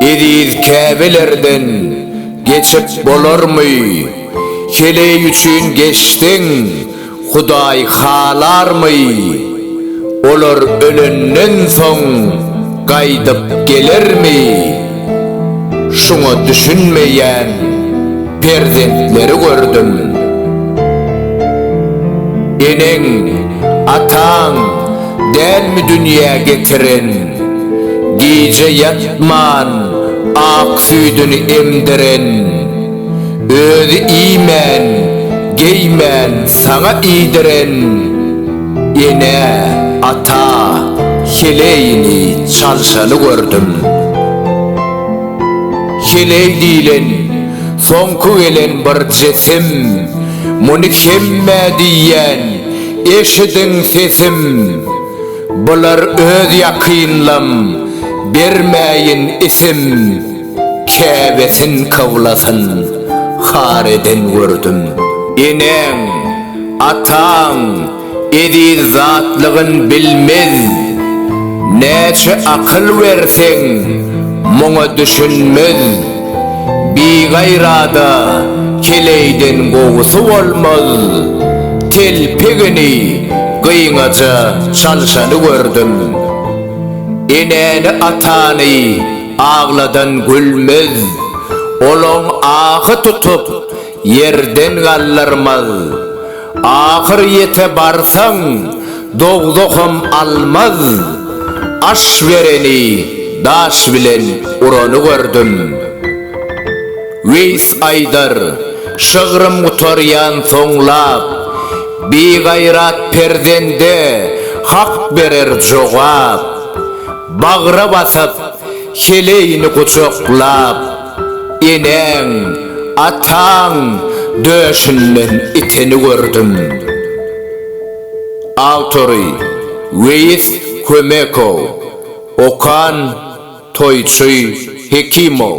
Eziz käbelerden geçip bolarmy? Heleý üçin geçseň, Hudaý halarmy? Olar ölenden soň gaýdyp gelermi? Şuňa düşünmeýän perzentleri gördüm. Eneň, ataň. Dälmi dünýä getiren, gije ýatman ak süýdüni emdiren, Özi iýmän, geýmän saňa iýdiren, Ene, ata, heleýini, çalşany gördüm. Heleý diýlen, soňky gelen bir jisim, Muny hemmä diýýän, Eşidiň sesim, bular öz ýakynlam, bermäýin isim, käbesin kyblasyn, har eden gördüm. Eneň, ataň eziz zatlygyn bilmez, näçe akyl berseň, muňa düşünmez. Bigaýrada keleýden gowusy bolmaz, telpegini gyňaja çalşany gördüm. Enäni-atany agladan gülmez, olaň ahy tutup, Ýerden galdyrmaz. Ahyr ýete barsaň, dogzaham almaz. Aş bereni daş bilen urany gördüm. Weýs aýdar, Şygrym gutarýan soňlap, bigaýrat perzende Hak berer jogap. Bagra basyp, heleýini gujaklap. Eneň, ataň döşünden iteni gördüm. Awtory, Weýis Kömekow. Okan, Toýçy Hekimow.